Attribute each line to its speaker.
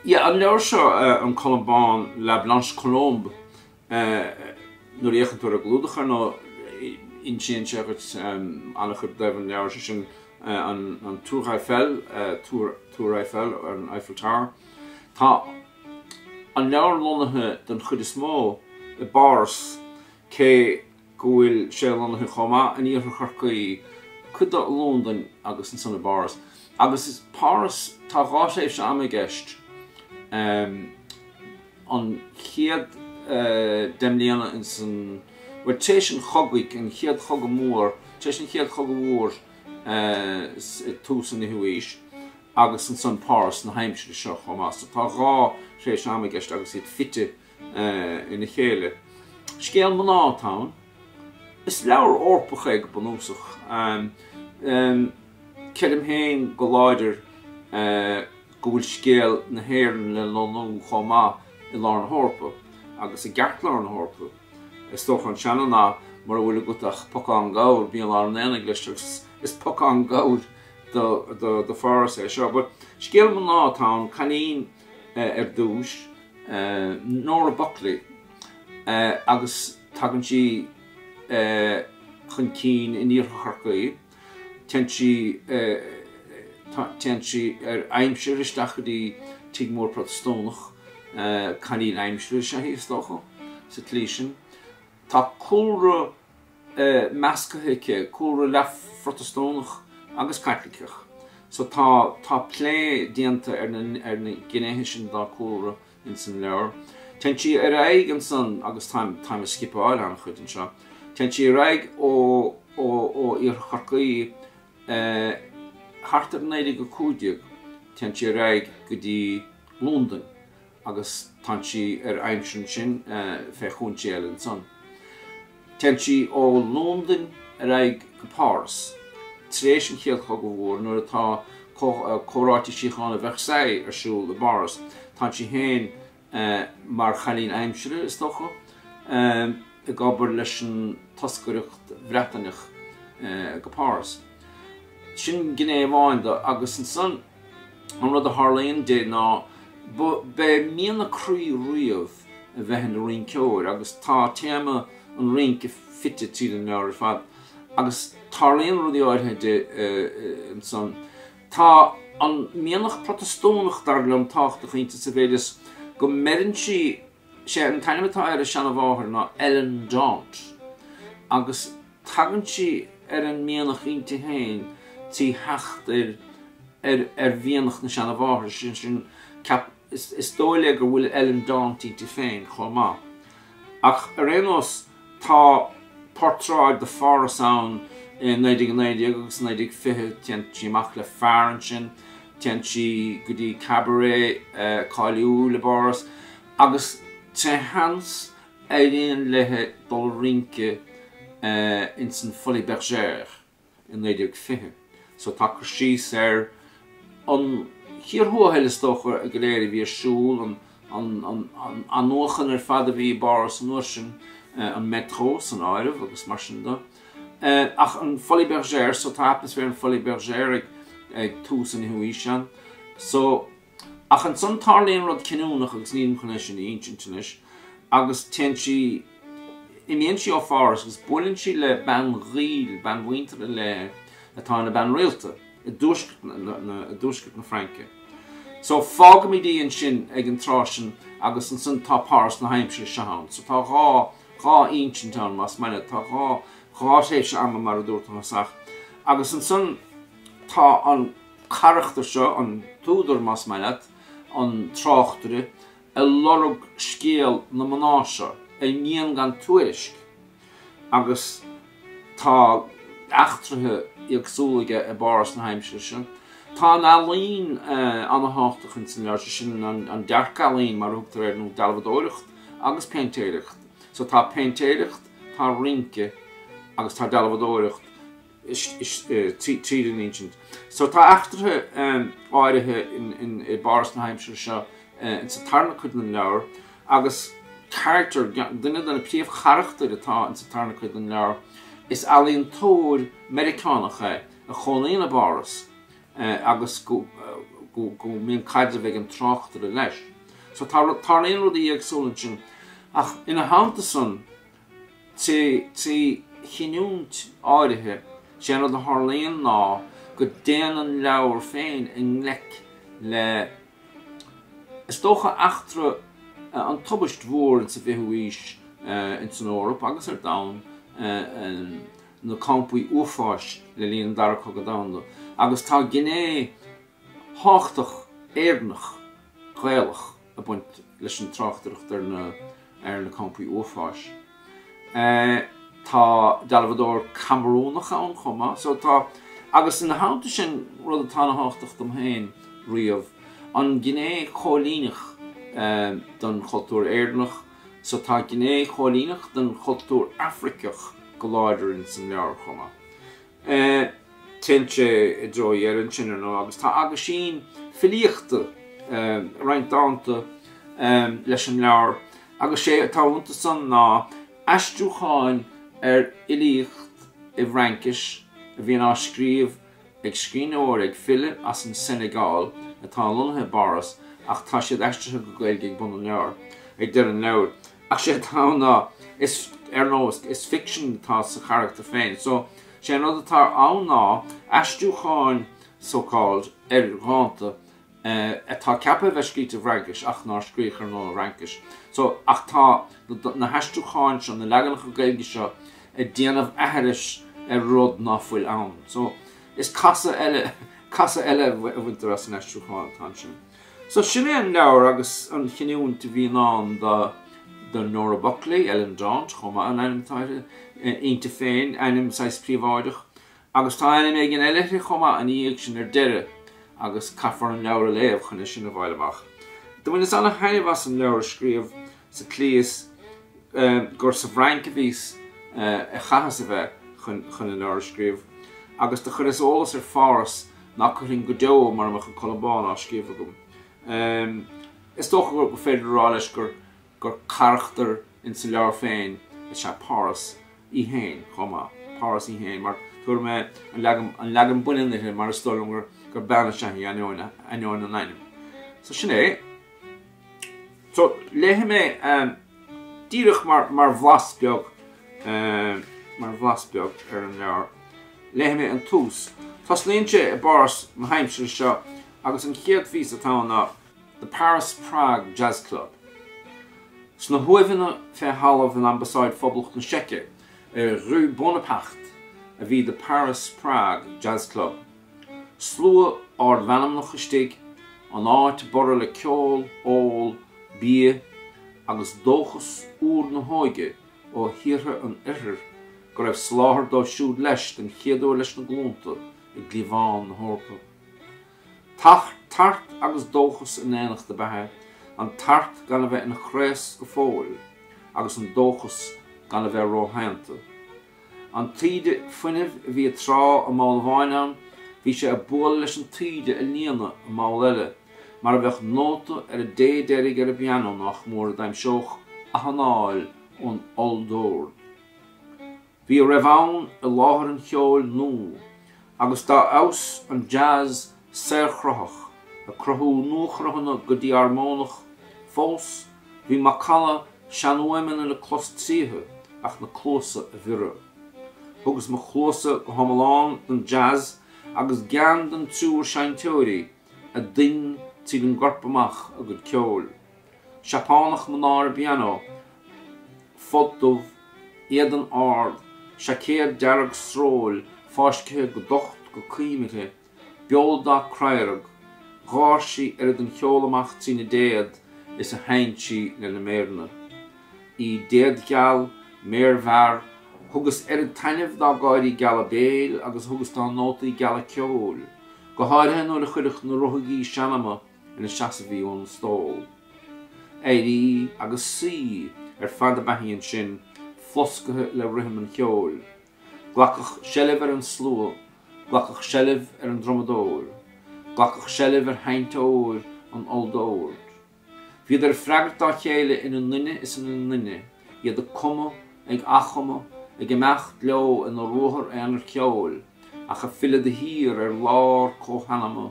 Speaker 1: Ie, an leabhar seo, An Colm Bán, La Blanche Colombe, nuair a fhéachann tú ar an gclúdach ar ndóigh, insíonn sé dhuit an-chuid i dtaobh an leabhair, sé sin an Tour Eiffel, Túr Eiffel, an Eiffel Tower. Tá an leabhar lonnaithe den chuid is mó i bPáras cé. go bhfuil sé lonnaithe chomh maith in Iarthar Chorcaí, cuid de Londain agus ansan i bPáras. Agus is Páras, tá dhá thréimhse ama i gceist, an chéad deich mbliana insan, bhuel tar éis an chogaidh, an chéad chogadh mór, tar éis an chéad chogadh mhór ag tús an fhichiú aois agus ansan Páras na haimsire seo chomh maith. So tá dhá thréimhse ama i gceist agus iad fite ina chéile. Scéal mná atá ann. Is leabhar Eorpach é go bunúsach. Creidim féin go láidir go bhfuil scéal na hÉireann le lonnú chomh maith i lár na hEorpa agus i gceartlár na hEorpa. Is dócha an seana-nath mura bhfuil agat ach pocán gabhair bí i lár an aonaigh leis agus is pocán gabhair do Pháras é seo. But scéal mná atá ann, cailín. ar dtúis, Nora Buckley, agus tagann sí chun cinn in Iarthar Chorcaí. Téann sí ar aimsir isteach go dtí tigh mór Protastúnach, cailín aimsire is ea í is dócha, sa tslí san. Tá cúlra. measctha aici, cúlra leath-Phrotastúnach agus Caitliceach. So tá plé déanta ar na gnéithe sin dá cúlra ins an leabhar. Téann sí ar aghaidh ansan agus táim ag scipeáil an-chuid anseo. Téann sí ar aghaidh ó Iarthar Chorcaí thart ar 1915 téann sí ar aghaidh go dtí Londain. agus tá sí ar aimsir annsin fé chúinsí eile annsan. Téann sí ó Londain ar aghaidh go Páras, tréis an Chéad Chogadh Mhór nuair atá comhráite síochána Versailles ar siúl i bPáras. Tá sí féin mar chailín aimsire, is dócha, ag obair leis an toscaireacht Bhreataineach go Páras. Sin gné amháin de, agus annsan, An rud a tharlaíonn di ná b'é mian a croí riamh a bheith ina rinceoir agus tá téama an rince fite tríd an leabhar ar fad agus tarlaíonn rudaí áirithe di ansan. Tá an mianach Protastúnach dar liom tábhachtach inti sa mhéid is go mbeireann sí Sé an t-ainm atá ar a seanmháthair ná Ellen Daunt agus tagann sí ar an mianach inti féin trí theacht ar mhianach na seanmháthar sin. Is dóigh léi go bhfuil Ellen Daunt inti féin chomh maith. Ach ar aon nós. Tá portráid de Pháras ann i 1919 agus 1920. Téann sí amach le fear ansin. Téann sí go dtí cabaret cáiliúil i bPáras agus éiríonn léithi dul ag rince ins an Folies Bergère. i 1920. So tá cur síos ar an gcíor thuathail is dócha go léir a bhí ar siúl, an athnuachan ar fad a bhí i bPáras an uair sin, an métro san áireamh agus mar sin de. Ach an Folies Bergère, so tá atmaisféar an Folies Bergère ag tús an fhichiú aois ann. So. Ach ansan tarlaíonn rud cinniúnach agus nílim chun é sin a insint anois agus téann sí, imíonn sí ó Pháras agus buaileann sí le bean ghaoil, bean mhuinteartha léi, atá ina bean rialta i dtuaisceart na, na, i dtuaisceart na Fraince. So fágaimid í ansin ag an tráth sin agus ansan tá Páras na haimsire seo ann. So tá dhá, dhá insint ann más maith leat, tá dhá, dhá thréimhse ama mar a dúirt an tÁsach agus ansan tá an, carachtar seo, an t-údar más maith leat, an tráchtaire, ag lorg scéal na mná seo, a imíonn gan tuairisc, agus tá eachtraithe éagsúla aige i bPáras na haimsire seo. Tá an ealaín ana-thábhachtach ins an leabhar, sin an dearc-ealaín mar a thugtar air, nó dealbhadóireacht agus péintéireacht. So tá péintéireacht, tá rince agus tá dealbhadóireacht tríd an insint. So Tá eachtraithe áirithe i bPáras na haimsire seo insa tarna cuid den leabhar agus carachtar, duine de na príomhcharachtair atá insa tarna cuid den leabhar, is ealaíontóir Meiriceánach é a chónaíonn i bPáras agus go mbíonn caidreamh ag an tráchtaire leis. So tarlaíonn rudaí éagsúla ansin ach ina theannta san, Trí chinniúint áirithe, sé rud a tharlaíonn ná go dtéann an leabhar féin i ngleic le, is dócha, eachtra an tubaist mhór ins an bhfichiú aois ins an Eoraip agus ar domhan, na campaí uafáis le linn an Dara Cogadh Domhanda, agus tá gné thábhachtach Éireannach, Gaelach, ag baint leis an tráchtaireacht ar na ar na campaí uafáis. Tá dealbhadóir Camarúnach ann chomh maith. So tá agus ina theannta sin rud atá ana thábhachtach dom féin riamh an ghné choilíneach den chultúr Éireannach. So tá gné choilíneach den chultúr Afraiceach go láidir ins an leabhar chomh maith. Téann sé i dtreo dheireadh ansan, ar ndóigh, agus tá aguisín filíochta, roinnt dánta, leis an leabhar, agus sé atá iontu san ná aistriúcháin ar fhilíocht i bhFraincis a bhíonn á scríobh ag scríbhneoir, ag file, as an Senegal atá lonnaithe i bPáras, ach tá siad aistrithe go Gaeilge ag bun an leabhair, ag deireadh an leabhair. Ach sé atá ann ná, ar ndóigh, is ficsean atá sa charachtar féin. So, sé an rud atá ann ná aistriúcháin, so called, ar dhánta atá ceaptha a bheith scríte i bhFraincis ach ná scríodh ar ndóigh i bhFraincis. So, ach tá na haistriúcháin seo, na leaganacha Gaeilge seo ag déanamh aithris ar rud ná fuil ann. So, is casadh eile, casadh eile a bhaintear as an aistriúchán atá ansan. So sin é an leabhar agus an chinniúint a bhí i ndán do, do Nora Buckley, Ellen Daunt chomh maith, an ainm atá uirthi, inti féin, ainm saghas príobháideach. Agus tá ainm éigin eile uirthi chomh maith ina dhiaidh sin ar deireadh agus caithfear an leabhar a léamh chun é sin a fháil amach. Do bhaineas ana-thaitneamh as an leabhar a scríobh sa tslí is gur sa bhFrainc a bhíos a chaitheas a bheith chun an leabhar a scríobh, agus do chuireas eolas ar Pháras nach gcuirfinn go deo mura mbeadh an Colm Bán á scríobh agam. Is dócha gur féidir a rá leis gur carachtar in sa leabhar féin is ea Páras í féin chomh maith, Páras í féin, mar tabharfaidh mé an leagan baininn uirthi mar is dóigh liom gur bean is ea í ainneoin an ainm. So sin é. So, léifidh mé díreach mar bhlas beag, mar bhlas beag ar an leabhar. Léifidh mé an tús. Tosnaíonn sé i bPáras na haimsire seo agus an chéad phíosa atá ann ná The Paris Prague Jazz Club. Sna huaimheanna fé thalamh in Ambasáid Phoblacht na Seice ar Rue Bonaparte a bhí The Paris Prague Jazz Club. Slua ardmheanmnach istigh, an áit ag borradh le ceol, ól, bia agus dóchas úr na hóige ó thíortha an Oirthir go raibh slí dóibh siúd leis, den chéad uair leis na glúnta i gcliabhán na hEorpa. Tart agus dóchas i n-éineacht ab ea é, an tart gan a bheith ina chraos go fóill agus an dóchas gan a bheith róshoineanta. An taoide fuinnimh a bhí ag trá i mball amháin ann, bhí sé ag bualadh leis an taoide ag líonadh i mball eile, mar a bheadh nóta ar an dtéad deiridh ar an bpianó nách mór a d'aimseodh athanáil ón olldord. Bhí a raibh ann i láthair an cheoil nua, agus dá fheabhas an jazz saorchruthach, ag cruthú nuachruthanna go dí-armónach fós, bhí macalla seanfhuaimeanna le clos tríothu ach na cluasa a bhiorradh. Thugas mo chluasa go hiomlán don jazz agus gean don triúr seinnteoirí a ding tríd an gcorp amach a gcuid ceoil. Seapánach mná ar an bpianó, folt dubh, éadan ard, seaicéad dearg sróil fáiscthe go docht go coim uirthi, beoldath craorag, gháir sí oiread den cheol amach trína déad is a sheinn sí lena méireanna. Í déadgheal, méarmhear, thugas oiread taitneamh dá gáirí geala béil agus a thugas dá nótaí geala ceoil, go háirithe nuair a chuirfeadh na ruthaigí seanma ina seasamh í ón stól. Éirí agus suí ar fad ab eadh í ansin, flosctha le rithim an cheoil. Glacadh seilbh ar an slua, glacadh seilbh ar an drumadóir, glacadh seilbh ar sheinnteoir an olldoird. Bhíodar ag freagairt dá chéile ina nduine is ina nduine, iad ag cumadh, ag athchumadh, ag imeacht leo ina ruathar aonair ceoil, ach ag filleadh de shíor ar lár comhsheanma